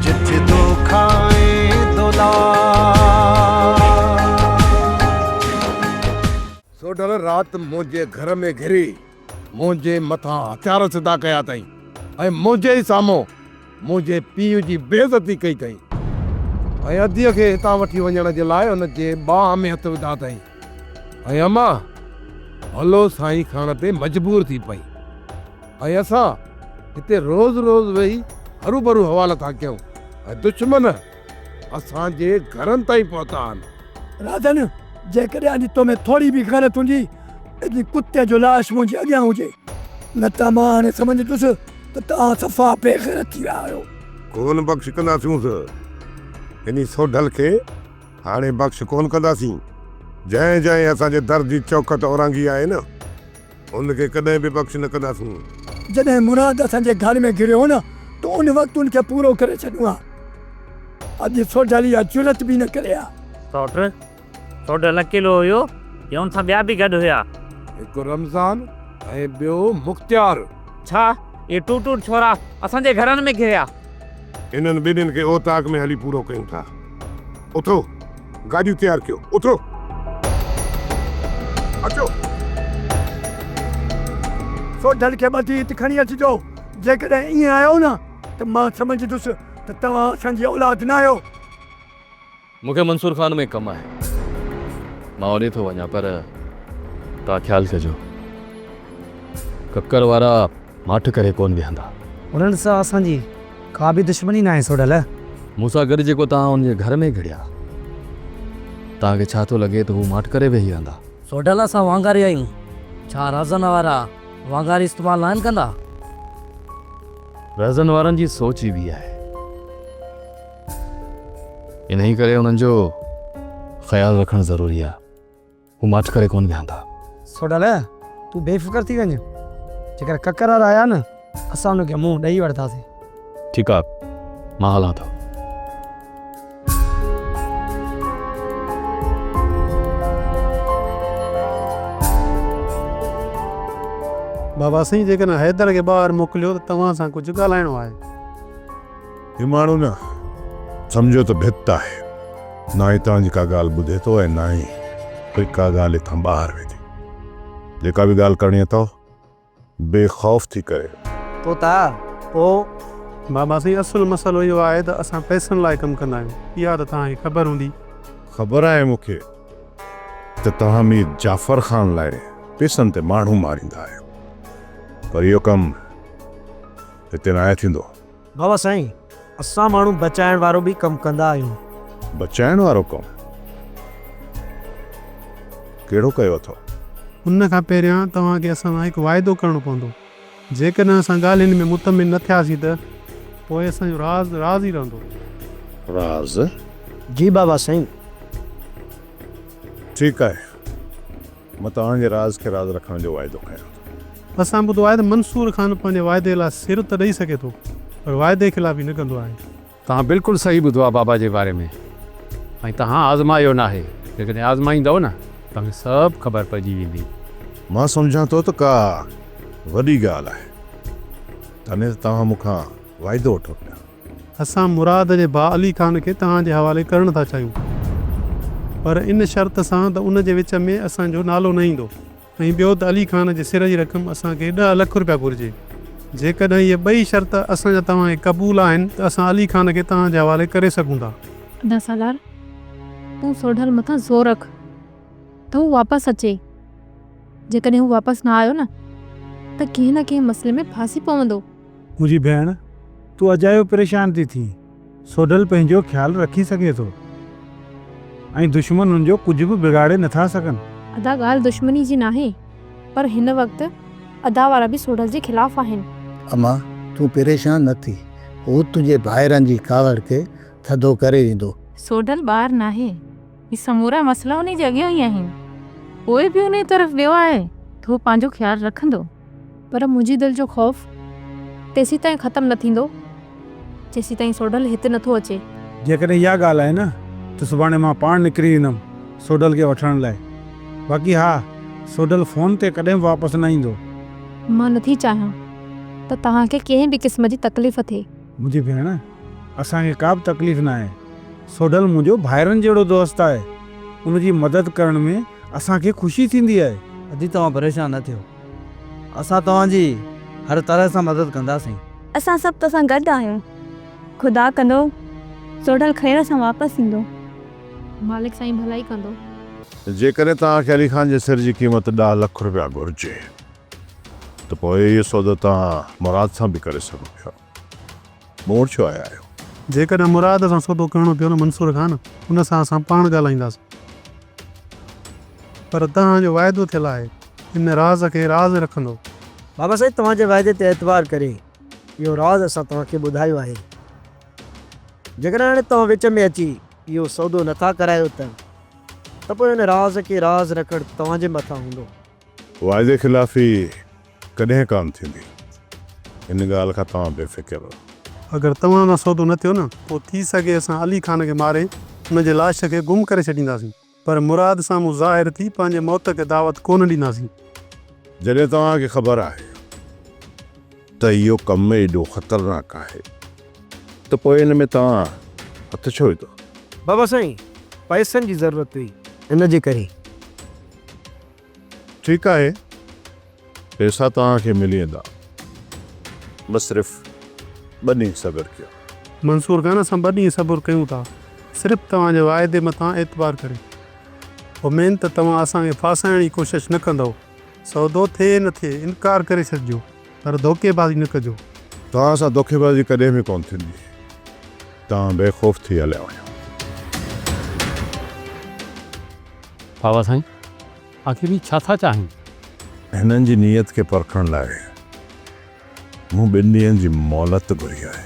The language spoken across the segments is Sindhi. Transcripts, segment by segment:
جت دو کائين دولار. سوڍل رات منهنجي گهر ۾ گهري منهنجي مٿان هٿيار سڌا ڪيا اٿئي ۽ منهنجي ئي سامهون منهنجي پيء جي بي عزتي ڪئي اٿئي ۽ اديء کي هتان وٺي وڃڻ جي لاء ان جي ٻانهن ۾ هٿ وڌا اٿئي ۽ امان هلو سائين کڻڻ تي مجبور ٿي پئي. ۽ اسان هتي روز روز ويهي هروڀرو حوال ٿا ڪيون ۽ دشمن اسان جي گهرن تائين پهتا آهن. راجن، جيڪڏهن اڄ تو ۾ ٿوري به غيرت هوندي ته جي ڪتي جو لاش منهنجي اڳيان هجي، نه ته مان هاڻي سمجهندس ته توهان صفا بي غيرت ٿي ويا آهيو. ڪونه بخش ڪنداسينس، انهي سوڍل کي هاڻي بخش ڪونه ڪنداسين، جنهن جنهن اسان جي در جي چوکٽ اورانگهي آهي نه، ان کي ڪڏهن به بخش نه ڪنداسون. جڏهن مراد اسان جي گهر ۾ گهريو هو نه ته ان وقت ان کي پورو ڪري ڇڏيون ها. اڄ سوڍل اها جرئت به نه ڪري ها. سوٽ، سوڍل اڪيلو هيو يا ان سان ٻيا به گڏ هيا؟ هڪ رمضان ۽ ٻيو مختيار. ڇا اهي ٽو ٽوڙ ڇورا اسان جي گهرن ۾ گهريا؟ انهن ٻنهين کي اوطاق ۾ هلي پورو ڪيون ٿا. اٿو گاڏيون تيار ڪيو اٿو اچو. سوڍل کي ٻڌي هت کڻي اچجو جيڪڏهن ائين آيو نه ته مان سمجهندس ته توهان اسان جي اولاد نه آهيو. مون کي منصور خان ۾ ڪم آهي مان اوڏي ٿو وڃان پر توهان خيال ڪجو ڪڪر وارا ماٺ ڪري ڪون ويهندا. انهن سان اسان جي. ڪا به دشمني ناهي سوڍل. مون سان گڏ جيڪو توهان ان جي گهر ۾ گهڙيا، توهان کي ڇا ٿو لڳي ته هو ماٺ ڪري ويهي رهندا؟ سوڍل، اسان وانگاري آهيون، ڇا رهزن وارا وانگاري استعمال ناهن ڪندا؟ رهزن وارن جي سوچ ئي ٻي آهي، انهيء ڪري انهن جو خيال رکڻ ضروري آهي. هو ماٺ ڪري ڪونه ويهندا. سوڍل، تون بي فڪر ٿي وڃ. جيڪر ڪڪر وارا آيا نه، اسان انهن کي منهن ڏئي وٺنداسين. ٺيڪ آ، مان هلان ٿو. بابا سائين، جيڪڏهن حيدر کي ٻاهر موڪليو ته توهان سان ڪجهه ڳالهائڻو آهي. هي ماڻهو نه سمجهيو ته ڀت آهي، نه هتان جي ڪا ڳالهه ٻڌي ٿو ۽ نه ئي وري ڪا ڳالهه هتان ٻاهر ويندي. جيڪا به ڳالهه ڪرڻي اٿئو، بي خوف ٿي ڪري. طوطا، پوء؟ بابا سائين، اصل مسئلو اهو آهي ته اسان پئسن لاء ڪم ڪندا آهيون، اها ته توهان کي خبر هوندي. خبر آهي مون کي ته توهان مير جعفر خان لاء پئسن تي ماڻهو ماريندا آهيو، پر اهو ڪم هتي ناهي ٿيندو. بابا سائين اسان ماڻهو بچائڻ وارو به ڪم ڪندا آهيون. بچائڻ وارو ڪم ڪهڙو ڪيو اٿئو؟ ان کان پهريان توهان کي اسان سان هڪ واعدو ڪرڻو پوندو. جيڪڏهن اسان ڳالهين ۾ مطمئن نه ٿياسين ته پوء اسان جو راز راز ئي رهندو. راز؟ جي بابا سائين. ٺيڪ آهي. مان توهان جي راز کي راز رکڻ جو واعدو ڪيان ٿو. اسان ٻڌو آهي ته منصور خان پنهنجي واعدي لاء سر ته ڏئي سگهي ٿو پر واعدي خلافي نه ڪندو آهي. توهان بلڪل صحيح ٻڌو آهي بابا جي باري ۾ ۽ توهان آزمايو ناهي جيڪڏهن آزمائيندؤ نه توهان کي سڀ خبر پئجي ويندي. مان سمجهان ٿو ته ڪا وڏي ڳالهه آهي تڏهن ته توهان مون کان واعدو وٺو پيا. اسان مراد جي ڀاء علي خان کي توهان جي حوالي ڪرڻ ٿا چاهيون پر ان شرط سان ته ان جي وچ ۾ اسان جو نالو نه ايندو ۽ ٻيو ته علي خان جي سر جي رقم اسان کي ڏهه لک رپيا گهرجي جيڪڏهن اهي ٻئي شرط اسان جا توهان کي قبول آهن ته اسان علي خان کي توهان جي حوالي ڪري سگهون ٿا. ادا سالار تون سوڍل مٿان زور رک ته هو واپس اچي جيڪڏهن هو واپس نه آيو نه ته ڪنهن نه ڪنهن مسئلي ۾ ڦاسي پوندو. منهنجي ڀيڻ، تون اجايو پريشان ٿي ٿين، سوڍل پنهنجو خيال رکي سگهي ٿو ۽ دشمن هن جو ڪجهه به بگاڙي نٿا سگهن. ادا ڳالهه دشمني جي ناهي، پر هن وقت ادا وارا به سوڍل جي خلاف آهن. اما، تون پريشان نه ٿي، هو تنهنجي ڀائرن جي ڪاوڙ کي ٿڌو ڪري ويندو. سوڍل ٻار ناهي، هي سمورا مسئلا انهي جي اڳيان ئي آهن، پوء به انهي طرف ويو آهي ته هو پنهنجو خيال رکندو. پر منهنجي دل جو خوف تيسيتائين ختم نه ٿيندو، جيسيتائين سوڍل هت نٿو اچي. جيڪڏهن اها ڳالهه آهي نه ته سڀاڻي مان پاڻ نڪري ايندم سوڍل کي وٺڻ لاء. باقي ها، سوڍل فون تي ڪڏهن به واپس نه ايندو. مان نٿي چاهيان ته توهان کي ڪنهن به قسم جي تڪليف ٿئي. منهنجي ڀيڻ، اسان کي ڪا به تڪليف ناهي. سوڍل منهنجو ڀائرن جهڙو دوست آهي. ان جي مدد ڪرڻ ۾ اسان کي خوشي ٿيندي آهي. ادي توهان پريشان نه ٿيو. اسان توهان جي هر طرح سان مدد ڪنداسين. اسان سڀ تو سان گڏ آهيون. خدا ڪندو سوڍل خير سان واپس ايندو. مالڪ سائين ڀلائي ڪندو. جيڪڏهن توهان کي علي خان جي سر جي قيمت ڏهه لک رپيا گهرجي. ته پوء اهي سودا توهان مراد سان به ڪري سگهو پيا. مون وٽ ڇو آيا آهيو؟ جيڪڏهن مراد سان سودو ڪرڻو پيو نه منصور خان، ان سان اسان پاڻ ڳالهائينداسين. پر توهان جو واعدو ٿيل آهي، ان راز کي راز رکندو. بابا سائين توهان جي واعدي تي اعتبار ڪري اهو راز اسان توهان کي ٻڌايو آهي. جيڪڏهن هاڻي توهان وچ ۾ اچي اهو سودو نه ٿا ڪرايو ته ته پوء ان راز کي راز رکڻ توهان جي مٿان هوندو. واعدي خلافي ڪڏهن ڪانه ٿيندي ان ڳالهه کان توهان بي فڪر رهو. اگر توهان سان سودو نه ٿيو نه پوء ٿي سگهي اسان علي خان کي ماري ان جي لاش کي گم ڪري ڇڏينداسين پر مراد سامهون ظاهر ٿي پنهنجي موت کي دعوت ڪونه ڏينداسين. جڏهن توهان کي خبر آهي. ته اهو ڪم ايڏو خطرناڪ آهي ته پوء ان ۾ توهان هٿ ڇو وڌو؟ بابا سائين پئسن جي ضرورت هئي ان جي ڪري. ٺيڪ آهي پئسا توهان کي ملي ويندا بس صرف ٻه ڏينهن صبر ڪيو. منصور خان اسان ٻه ڏينهن صبر ڪيون ٿا صرف توهان جي واعدي مٿان اعتبار ڪري امين ته توهان اسان کي ڦاسائڻ جي ڪوشش نه ڪندؤ. سودو ٿئي نه ٿئي انڪار ڪري ڇڏجو پر ڌوڪي بازي نه ڪجو. توهان سان ڌوڪي بازي ڪڏهن به ڪونه ٿيندي. توهان بي خوف ٿي هليا وڃو. بابا سائين آخر هي ڇا ٿا چاهين؟ هنن جي نيت کي پرکڻ لاء مون ٻن ڏينهن جي مهلت گهري آهي.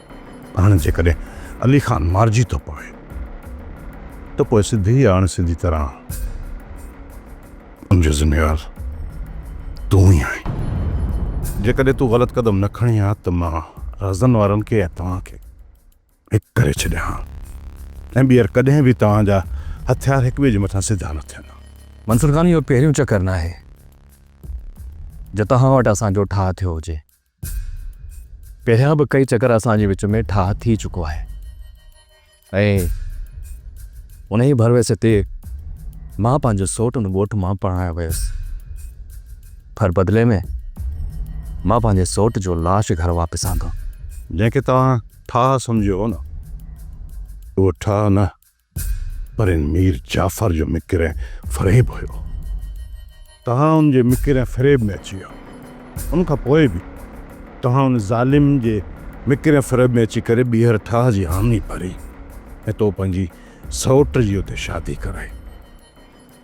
هاڻي جيڪڏهن علي خان مارجي ٿو پوي ته پوء سڌي يا اڻ سڌي طرح ان جو ذميوار تون ئي آهين. جيڪڏهن تون غلط قدم نه کڻين ها ته مان رزن وارن کي ۽ توهان کي هڪ ڪري ڇڏيان ها ۽ ٻيهر ڪڏهن به توهان جا هٿيار هڪ ٻئي جي مٿان سڌا نه ٿين ها. منصور خان اهو پهريون چڪر ناهي جو توهان وٽ اسان جو ٺاهه ٿيو هجي. پهريان به ڪئي چڪر اسان جي وچ ۾ ٺاهه ٿي چڪو آهي ۽ ان ئي ڀروسي تي مان پنهنجو سوٽ ان ڳوٺ مان پرڻايو ويس پر بدلي ۾ مان پنهنجي سوٽ جو لاش گهر واپس آندو جنهن کي توهان ٺاهه سمجهيو هو نه اهو ٺاهه نه پر ان مير جعفر جو مڪر ۽ فريب هيو. توهان ان جي مڪر ۽ فريب ۾ اچي ويا. ان کان پوء به توهان ان ظالم جي مڪر ۽ فريب ۾ اچي ڪري ٻيهر ٺاهه جي حامي ڀري ۽ تو پنهنجي سئوٽ جي اتي شادي ڪرائي.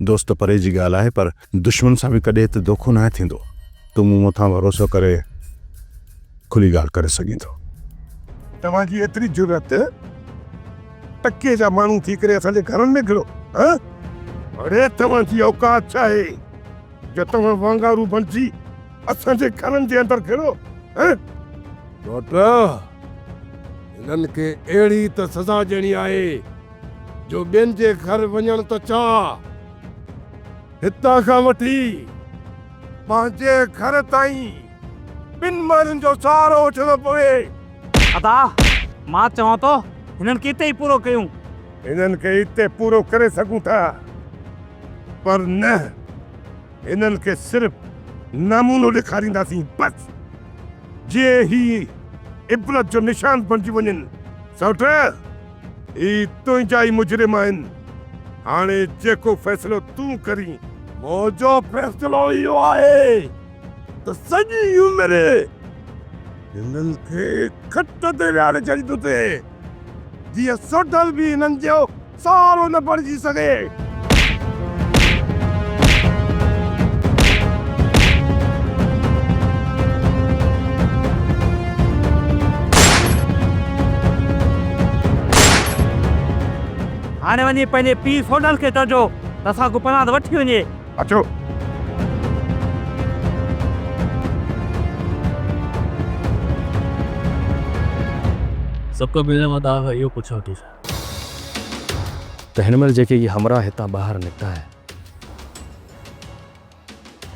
دوست پري جي ڳالهه آهي پر دشمن سان به ڪڏهن ته دوکو ناهي ٿيندو. تون مون مٿان ڀروسو ڪري کلي ڳالهه ڪري سگهين ٿو. توهان جي ايتري جرئت! ٽڪيء جا ماڻهو ٿي ڪري اسان جي گهرن ۾ گهڙو هان؟ اڙي توهان جي اوقات ڇا آهي جو توهان وانگارو بڻجي اسان جي گهرن جي اندر گهڙو هان؟ ڊاڪٽر! هنن کي اهڙي ته سزا ڏيڻي آهي. جو ٻين جي گهر وڃڻ ته چاهه، هتان کان وٺي پنهنجي گهر تائين ٻن ماڻهن جو سهارو وٺڻو پوي. ادا، مان چوان ٿو هنن کي اتي ئي پورو ڪيون. هنن کي اتي پورو ڪري سگهون ٿا، پر نه، هنن کي صرف نمونو ڏيکارينداسين بس، جيئن هي عبرت جو نشان بڻجي وڃن. سئوٽ! هي تنهنجا ئي مجرم آهن، هاڻي جيڪو فيصلو تون ڪرين. منهنجو فيصلو اهو آهي ته سڄي عمر هنن کي کٽ تي ويهاري ڇڏيندوسين، جيئن سوڍل به هنن جو سهارو نه بڻجي سگهي. هاڻي وڃي پنهنجي پيء سونڊل کي چئجو ته اسان کان پناهه وٺي وڃي. اچو. سڀ کان پهريان مان توهان کان اهو پڇان ٿي ته ته هن مهل جيڪي هي همراهه هتان ٻاهر نڪتا آهن،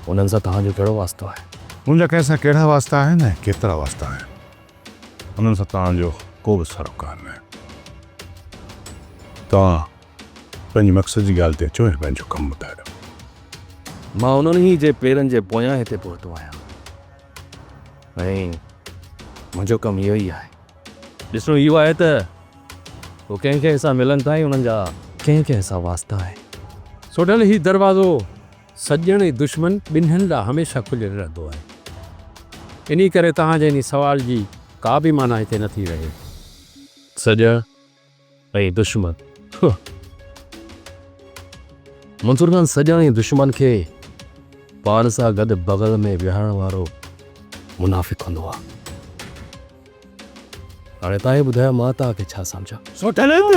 انهن سان توهان جو ڪهڙو واسطو آهي؟ منهنجا ڪنهن سان ڪهڙا واسطا آهن ۽ ڪيترا واسطا آهن، انهن سان توهان جو ڪو به سروڪار ناهي. توهان پنهنجي مقصد جي ڳالهه تي اچو ۽ پنهنجو ڪم ٻڌايو. مان انهن ئي جي پيرن جي پويان هتي پهتو آهيان ۽ منهنجو ڪم اهو ئي آهي. ڏسڻو اهو آهي ته هو ڪنهن ڪنهن سان ملن ٿا ۽ انهن جا ڪنهن ڪنهن سان واسطا آهن. سوڍل هي دروازو سڄڻ ۽ دشمن ٻنهين لاء هميشه کليل رهندو آهي. انهي ڪري توهان جي انهي سوال جي ڪا به معنيٰ هتي نه ٿي رهي. سڄڻ اي دشمن! هه! منصور خان سڄڻي دشمن کي پاڻ سان گڏ بغل ۾ ويهارڻ وارو منافق هوندو آ. هاڻي تان ئي ٻڌايو مان تان کي ڇا سمجهان؟ سوٽلنگ!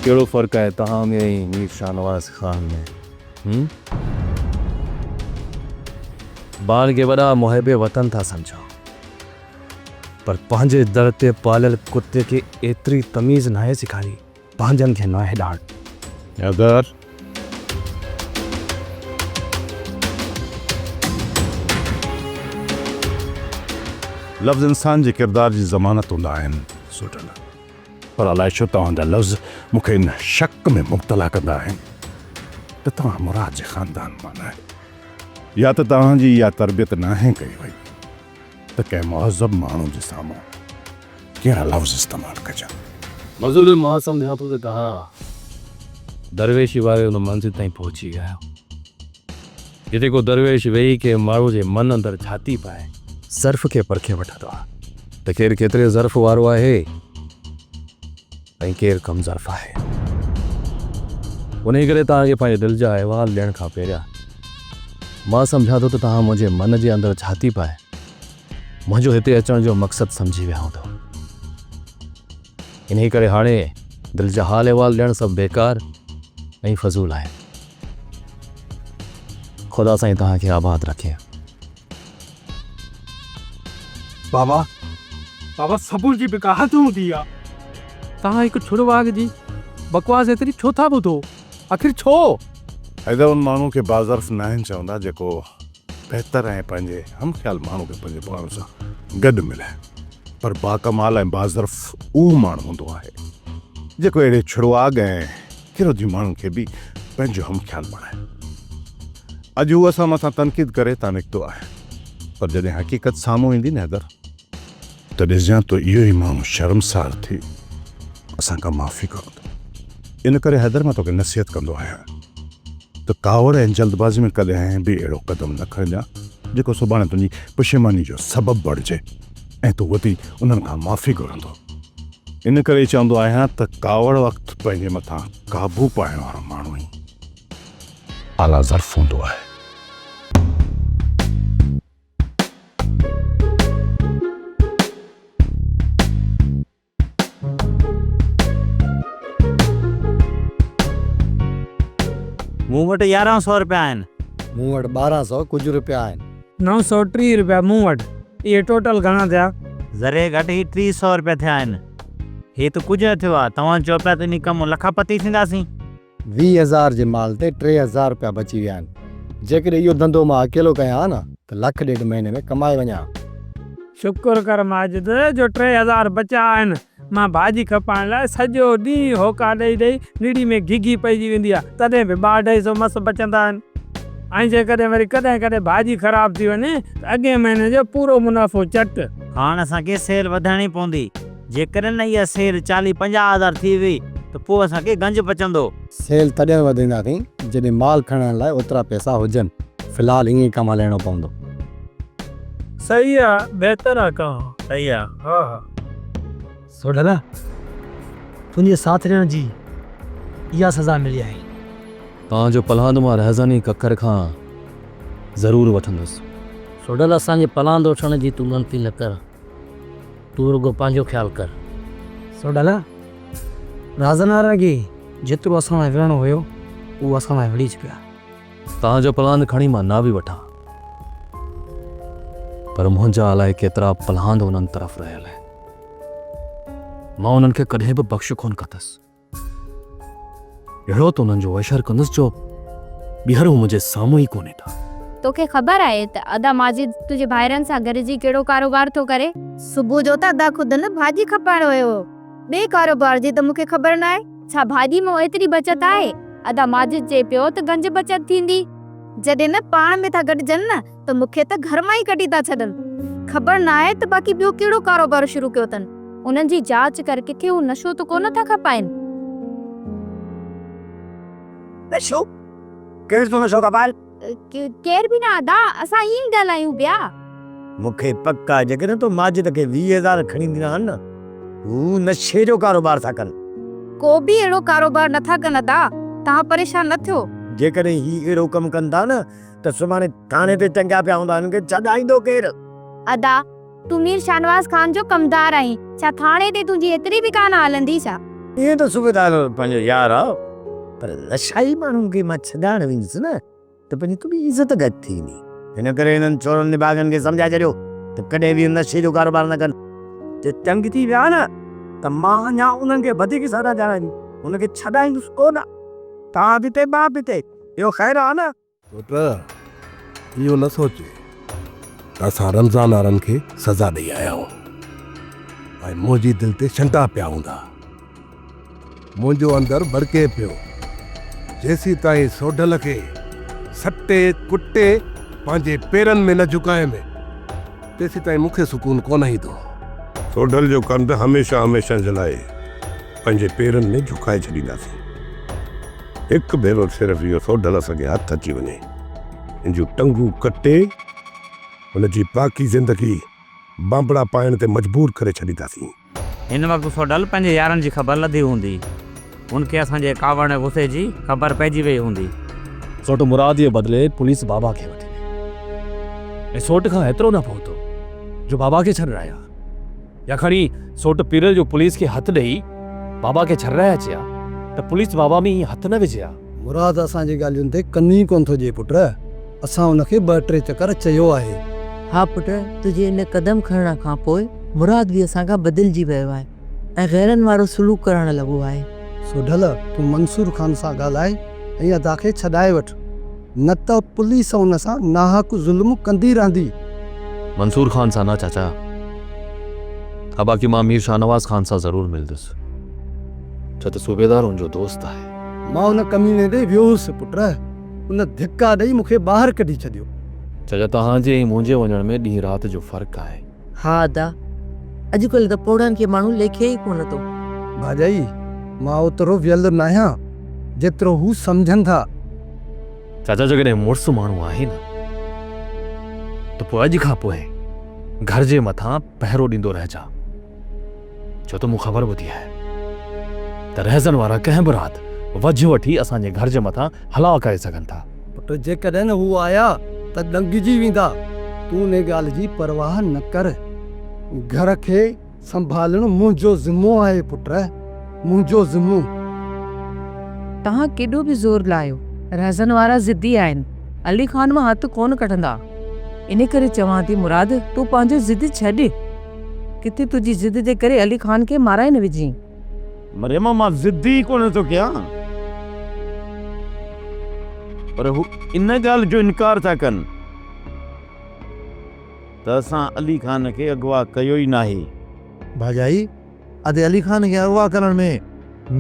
ڪهڙو فرق آهي تان ۾ ۽ مير شاهنواز خان ۾؟ هوم ٻارن کي وڏا محب وطن ٿا سمجهون پر پنهنجي در تي پاليل ڪتي کي ايتري تميز ناهي سيکاري پنهنجن کي ناهي ڏاڙ. حيدر. لفظ انسان جي ڪردار جي ضمانت هوندا آهن. سوٽل. پر الائي ڇو توهان جا لفظ مون کي ان شڪ ۾ مبتلا ڪندا آهن ته توهان مراد جي خاندان مان نه آهيو يا ته توهان جي اها تربيت ناهي ڪئي وئي ته ڪنهن مهذب ماڻهو جي سامهون ڪهڙا لفظ استعمال ڪجن. مظلوم مان سمجهان ٿو ته توهان درويشي واري ان منزل تائين پهچي ويا آهيو. جتي ڪو درويش ويهي ڪنهن ماڻهو جي من اندر جهاتي پائي ظرف کي پرکي وٺندو آ ته ڪير ڪيتري ظرف وارو آهي ۽ ڪير ڪم ظرف آهي. انهي ڪري توهان کي پنهنجي دل جا احوال ڏيڻ کان پهريان مان سمجهان ٿو ته توهان منهنجي من جي اندر جهاتي پائي منهنجو هتي اچڻ جو مقصد سمجهي ويا هوندؤ. انهي ڪري هاڻي دل جا حال احوال ڏيڻ سڀ بيڪار ۽ فضول آهن. خدا سائين توهان کي آباد رکي. بابا بابا سبر جي به ڪا حد هوندي آ. توهان هڪ ڇڙ واڳ جي بڪواس ايتري ڇو ٿا ٻڌو آخر ڇو؟ حيدر ان ماڻهو کي باظرف ناهن چوندا جيڪو بهتر ۽ پنهنجي هم خيال ماڻهو کي پنهنجي پاڻ سان گڏ ملائي پر باڪمال ۽ باظرف اهو ماڻهو هوندو آهي جيڪو اهڙي ڇڙواڳ ۽ ڪيرودي ماڻهن کي به پنهنجو هم خيال بڻايو. اڄ هو اسان مٿان تنقيد ڪري تان نڪتو آهي پر جڏهن حقيقت سامهون ايندي نه حيدر ته ڏسجان تو اهو ئي ماڻهو شرمسار ٿي اسان کان معافي گهرندو. ان ڪري حيدر مان توکي نصيحت ڪندو آهيان ته ڪاوڙ ۽ جلدبازي ۾ ڪڏهن به اهڙو قدم نه کڻجان جيڪو سڀاڻي تنهنجي پشيماني جو سبب بڻجي. ۽ تون وڌي انهن کان معافي گهرندو. ان ڪري چوندو آهيان ته ڪاوڙ وقت پنهنجي مٿان قابو پائڻ وارو ماڻهو ئي اعليٰ ظرف هوندو آهي. مون وٽ يارهن سؤ رپيا آهن. مون وٽ ٻارهن سؤ ڪجهه رپيا آهن. نو سؤ ٽيهه رپيا مون وٽ. اهي ٽوٽل گهڻا ٿيا؟ ذري گهٽ هي ٽيهه سؤ رپيا ٿيا آهن. هي ته ڪجهه نه ٿيو آهي. توهان چئو پيا ته انهي ڪم مان لکا پتي ٿينداسين. ويهه هزار جي مال تي ٽي هزار رپيا بچي ويا آهن. جيڪڏهن اهو ڌنڌو مان اڪيلو ڪيان ها نه ته لک ڏيڍ مهيني ۾ ڪمائي وڃان ها. شڪر ڪر ماجد جو ٽي هزار بچيا آهن. مان ڀاڄي کپائڻ لاء سڄو ڏينهن هوڪا ڏئي ڏئي نڙي ۾ گهگهي پئجي ويندي آهي تڏهن به ٻه اڍائي سو مس بچندا آهن. ۽ جيڪڏهن وري ڪڏهن ڪڏهن ڀاڄي خراب ٿي وڃي ته اڳئين مهيني جو پورو منافعو چٽ. هاڻ اسان کي سيل وڌائڻي پوندي. جيڪڏهن اها سيل چاليهه پنجاهه هزار ٿي وئي ته پوء اسان کي گنج پچندو. سيل تڏهن وڌائينداسين جڏهن مال کڻڻ لاء اوترا پئسا هجن. في الحال ائين ئي ڪم هلائڻو پوندو. صحيح آ بهتر آ ڪان. صحيح آ ها ها. سوڍلا تنهنجي ساٿ ڏيڻ جي اها سزا ملي آهي. ڪان جو پلاند مان رهزني ڪڪر کان ضرور وٺندس. سوڍلا اسان جي پلاند وٺڻ جي تون ڳڻتي نه ڪر. تون رڳو پنهنجو خيال ڪر. سوڍلا، راز نه رڳي جيترو اسان لاء وڙهڻو هيو، اهو اسان لاء وڙهي چڪيا. توهان جو پلان کڻي مان نه به وٺان، پر منهنجا الائي ڪيترا پلان انهن طرف رهيل آهن. مان انهن کي ڪڏهن به بخش ڪونه ڪندس. اهڙو ته انهن جو اشر ڪندس جو ٻيهر هو منهنجي سامهون ئي ڪونهي ٿا. توکي خبر آهي ته ادا ماجد تنهنجي ڀائرن سان گڏجي ڪهڙو ڪاروبار ٿو ڪري؟ صبح جو ته ادا خود هن ڀاڄي کپائڻ ويو هو. ٻئي ڪاروبار جي ته مون کي خبر ناهي. ڇا ڀاڄي مان ايتري بچت آهي؟ ادا ماجد چئي پيو ته گنج بچت ٿيندي. جڏهن نه پاڻ ۾ ٿا گڏجن نه ته مون کي ته گهر مان ئي ڪڍي ٿا ڇڏن. خبر ناهي ته باقي ٻيو ڪهڙو ڪاروبار شروع ڪيو اٿن. انهن جي جاچ ڪر ڪٿي هو نشو ته ڪونه ٿا کپائين. نشو؟ ڪير ٿو نشو کپائي؟ ڪير به نه ادا، اسان ائين ئي ڳالهايون پيا. مون کي پڪ آهي جيڪڏهن تو ماجد کي ويهه هزار کڻي ڏنا آهن نه هو نشي جو ڪاروبار ٿا ڪن. ڪو به اهڙو ڪاروبار نه ٿا ڪن ادا، توهان پريشان نه ٿيو. جيڪڏهن هي اهڙو ڪم ڪن ٿا نه ته سڀاڻي ٿاڻي تي ٽنگيا پيا هوندا، هنن کي ڇڏائيندو ڪير؟ ادا! تون مير شاهنواز خان جو ڪمدار آهين، ڇا ٿاڻي تي تنهنجي ايتري به ڪانه هلندي ڇا؟ ائين ته صوبيدار پنهنجو يار آ، پر نشائي ماڻهن کي مان ڇڏائڻ ويندس نه ته پنهنجي تڏهن عزت گهٽ ٿي ويندي. ان ڪري هنن چورن نڀاڳن کي سمجهائي ڇڏيو ته ڪڏهن به نشي جو ڪاروبار نه ڪن. جي تنگ ٿي ويا نه ته مان اڃا انهن کي وڌيڪ سزا ڏيارائيندس، هنن کي ڇڏائيندس ڪونه. تان پتي مان پتي، اهو خير آ نه؟ پٽ! اهو نه سوچ ته اسان رمضان وارن کي سزا ڏئي آيا آهيون ۽ منهنجي دل تي شنڊا پيا هوندا. منهنجو اندر ٻڙڪي پيو، جيسيتائين سوڍل کي سٽي ڪٽي پنهنجي پيرن ۾ نه جهڪايم، تيسيتائين مون کي سڪون ڪونه ايندو. سوڍل جو ڪنڌ هميشه هميشه جي لاء پنهنجي پيرن ۾ جهڪائي ڇڏينداسين. هڪ ڀيرو صرف اهو سوڍ لس کي هٿ اچي وڃي، ان جون ٽنگون ڪٽي، هن جي باقي زندگي بانبڙا پائڻ تي مجبور ڪري ڇڏينداسين. هن وقت سوڍل پنهنجي يارن جي خبر لڌي هوندي. هن کي اسان جي ڪاوڙ ۽ غصي جي خبر پئجي ويئي هوندي. سوڍ مراد جي بدلي پوليس بابا کي وٺي ويئي ۽ سوڍ کان هيترو نه پهتو جو بابا کي ڇڏڻ آيا. يا کڻي سوٽ پيرل جو پوليس کي هٿ ڏئي بابا کي ڇرائي اچي ها ته پوليس بابا ۾ ائين هٿ نه وجهي ها. مراد اسان جي ڳالهين تي ڪن ئي ڪونه ٿو ڏئي پٽ. اسان ان کي ٻه ٽي چڪر چيو آهي. ها پٽ تنهنجي ان قدم کڻڻ کان پوء مراد به اسان کان بدلجي ويو آهي ۽ غيرن وارو سلوڪ ڪرڻ لڳو آهي. سوڍل تون منصور خان سان ڳالهاء ۽ ادا کي ڇڏائي وٺ. نه ته پوليس ان سان ناحق ظلم ڪندي رهندي. منصور خان سان نه چاچا. ها باقي مان مير شاهنواز خان سان ضرور ملندس. ڇا ته صوبيدار ان جو دوست آهي. مان ان ڪميني ڏي ويو هوس پٽ. ان ڌڪا ڏئي مون کي ٻاهر ڪڍي ڇڏيو. چاچا توهان جي ۽ منهنجي وڃڻ ۾ ڏينهن رات جو فرق آهي. ها ادا اڄڪلهه ته پوڙهن کي ماڻهو ليکي ئي ڪونه ٿو. ڀاڄائي مان اوترو ويل ناهيان جيترو هو سمجهن ٿا. چاچا جيڪڏهن مڙس ماڻهو آهي نه ته پوء اڄ کان پوء گهر جي مٿان پهرو ڏيندو رهجان. ڇو ته مون خبر ٻڌي آهي ته رهزن وارا ڪنهن به رات وجهه وٺي اسان جي گهر جي مٿان حلا ڪري سگهن ٿا. پٽ جيڪڏهن هو آيا ته ڏنگجي ويندا. تون انهي ڳالهه جي پرواهه نه ڪر. گهر کي سنڀالڻ منهنجو ذمو آهي پٽ. منهنجو ذمو. توهان ڪيڏو به زور لاهيو رهزن وارا ضدي آهن علي خان مان هٿ ڪونه ڪڍندا. انهي ڪري چوان ٿي مراد تون پنهنجو ضد ڇڏ. ڪٿي تنهنجي ضد جي ڪري علي خان کي مارائي نه وجهين. مريم مان ضد ئي ڪونه ٿو ڪيان. پر هو ان ڳالهه جو انڪار ٿا ڪن ته اسان علي خان کي اغوا ڪيو ئي ناهي. ڀاڄائي، ادي علي خان کي اغوا ڪرڻ ۾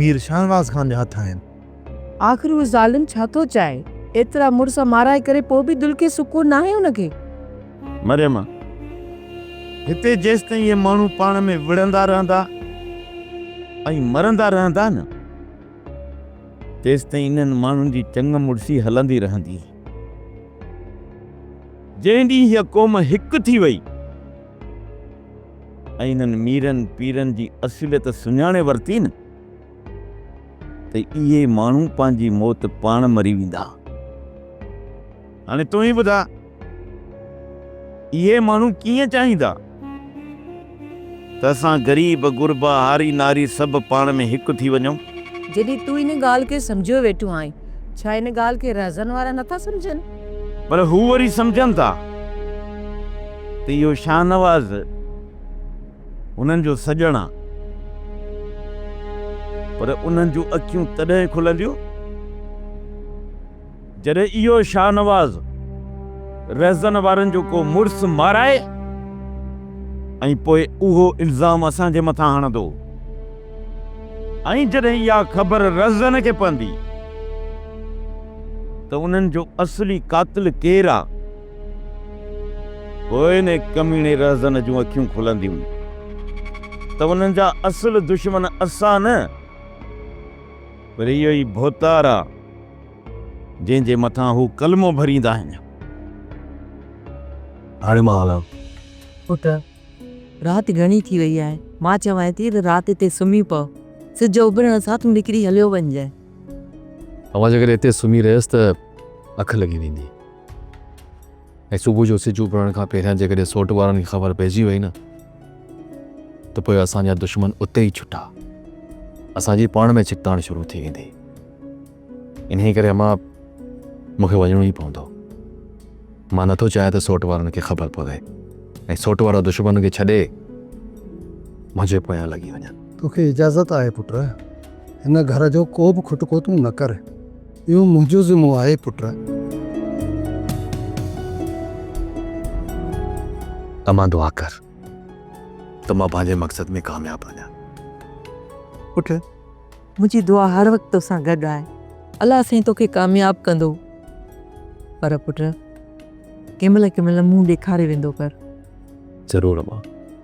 مير شاهنواز خان جا هٿ آهن. آخر اهو ظالم ڇا ٿو چاهي؟ ايترا مڙس مارائي ڪري پوء به دل کي سڪون ناهي ان کي. مريم، هتي جيستائين اهي ماڻهو پاڻ ۾ وڙهندا رهندا ۽ مرندا رهندا نه، تيستائين انهن ماڻهن جي چڱ مڙسي هلندي رهندي. جنهن ڏينهن هيء قوم هڪ ٿي وئي ۽ انهن ميرن پيرن جي اصليت سڃاڻي ورتي نه، ته اهي ماڻهو پنهنجي موت پاڻ مري ويندا. هاڻي تون ئي ٻڌاء اهي ماڻهو ڪيئن چاهيندا ته اسان غريب، غربا، هاري ناري سڀ پاڻ ۾ هڪ ٿي وڃون؟ جڏهن تون ان ڳالهه کي سمجهيو ويٺو آهين، ڇا ان ڳالهه کي رهزن وارا نه ٿا سمجهن؟ پر هو وري سمجهن ٿا ته اهو شاهنواز. هنن جو سڄڻ آ. پر انهن جون اکيون تڏهن کلنديون جڏهن اهو شاهنواز رهزن وارن جو ڪو مڙس مارائي ۽ پوء اهو الزام اسان جي مٿان هڻندو ۽ جڏهن اها خبر رهزن کي پوندي ته انهن جو اصلي قاتل ڪير آ. پوء ان ڪميڻي رهزن جون اکيون کلنديون ته انهن جا اصل دشمن اسان نه پر اهو ئي ڀوتار آ جنهن جي مٿان هو ڪلمو ڀريندا آهن. هاڻي مان هلان. پٽ! رات گهڻي ٿي وئي آهي. مان چوانء ٿي ته رات هتي سمهي پؤ. سج اڀرڻ سان تون نڪري هليو وڃجانء. اوهان جيڪڏهن هتي سمهي رهيس ته اک لڳي ويندي. ۽ صبح جو سج اڀرڻ کان پهريان جيڪڏهن سوٽ وارن کي خبر پئجي وئي نه ته پوء اسان جا دشمن اتي ئي ڇٽا اسان جي پاڻ ۾ ڇڪتاڻ شروع ٿي ويندي انهي ڪري اما مون کي وڃڻو ئي پوندو مان نٿو چاهيان ته سوٽ وارن کي خبر پوي ۽ سوٽ وارا دشمن کي ڇڏي منهنجي پويان لڳي وڃن. توکي اجازت آهي پٽ هن گهر جو ڪو به کٽڪو تون نه ڪر. اهو منهنجو ذمو آهي پٽ. امان دعا ڪر ته مان پنهنجي مقصد ۾ ڪامياب وڃان پٽ. منهنجي دعا هر وقت توسان گڏ آهي. الله سائين توکي ڪامياب ڪندو پر پٽ ڪنهن مهل ڪنهن مهل منهن ڏيکاري ويندو ڪر. ضرور امان.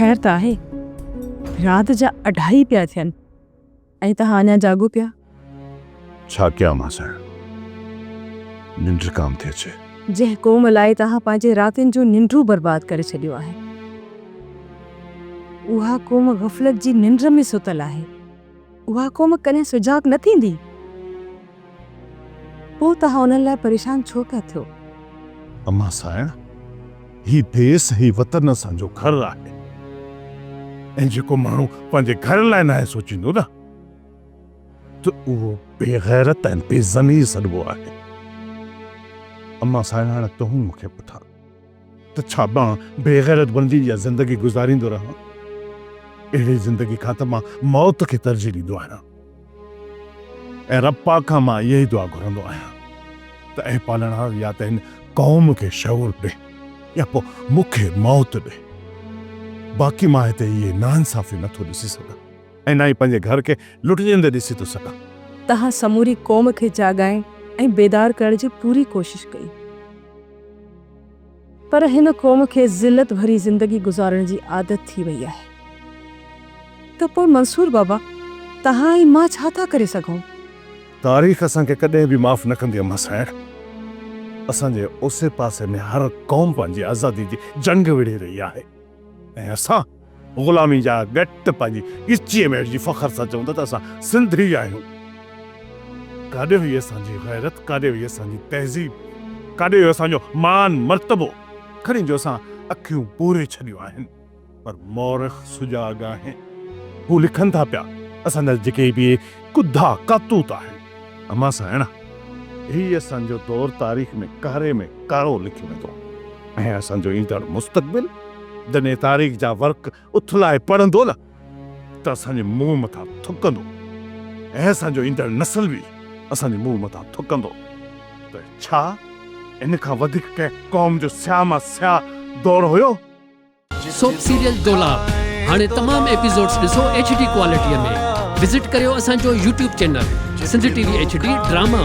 خير ته آهي رات جا اڍائي پيا ٿين ۽ توهان اڃا جاڳو پيا. ڇا ڪيان مان سائڻ ننڊ ڪام ٿي اچي. جنهن قوم لاء توهان پنهنجي راتين جون ننڊون برباد ڪري ڇڏيون آهن اها قوم غفلت جي ننڊ ۾ ستل آهي. اها قوم ڪڏهن سجاڳ نه ٿيندي. پوء توهان انهن لاء پريشان ڇو پيا ٿيو؟ امان سانئڻ! هي ديس، هي وطن اسان جو گهر آهي ۽ جيڪو ماڻهو پنهنجي گهر لاء ناهي سوچيندو نه ته اهو بيغيرت ۽ بي ضمير سڏبو آهي. امان سانئڻ! تون مون کي پٺان. ته ڇا مان بيغيرت بندي جا زندگي گذاريندو رهان؟ اهڙي زندگي کان ته مان موت کي ترجيح ڏيندو آهيان ۽ رب پاڪ کان مان اها ئي دعا گهرندو آهيان ته اي پالڻهار يا ته هن قوم کي شعور ڏي يا پوء مون کي موت ڏي باقي مان هتي اهي ناانصافيون نه ٿو ڏسي سگهان ۽ نه ئي پنهنجي گهر کي لٽجندي ڏسي ٿو سگهان. تنهن سموري قوم کي جاڳائڻ ۽ بيدار ڪرڻ جي پوري ڪوشش ڪئي. پر هن قوم کي ذلت ڀري زندگي گذارڻ جي عادت ٿي وئي آهي ته پوء منصور بابا توهان ۽ مان ڇا ٿا ڪري سگهون؟ تاريخ اسان کي ڪڏهن به معاف نه ڪندي اما سائڻ. اسان جي اوسي پاسي ۾ هر قوم پنهنجي آزادي جي جنگ وڙهي رهي آهي ۽ اسان. غلامي جا ڳٽ پنهنجي ڳچيء ۾ اهڙجي فخر سان چون ٿا ته اسان سنڌي آهيون. ڪاڏي وئي اسان جي غيرت، ڪاڏي وئي اسان جي تهذيب، ڪاڏي ويو اسان جو مان مرتبو. کڻي جو اسان اکيون پوري ڇڏيون آهن پر مورخ سجاڳ آهن. هو لکن ٿا پيا، اسان جا جيڪي به ڪڌا ڪاتوت آهن. اما سانئڻا، هي اسان جو دور تاريخ ۾ ڪاري ۾ ڪارو لکيو ويندو ۽ اسان جو ايندڙ مستقبل جڏهن تاريخ جا ورق اٿلائي پڙهندو نه ته اسان جي منهن مٿان ٿڪندو ۽ اسان جو ايندڙ نسل به اسان جي منهن مٿان ٿڪندو ته ڇا ان کان وڌيڪ ڪنهن قوم جو سياهه مان سياهه دور هيو؟ سوپ سيريل دولاب هاڻي تمام ايپيسوڊز ڏسو ايڇ ڊي ڪوالٽي ۾ وزٽ ڪريو اسان جو YouTube channel Sindh T V H D drama.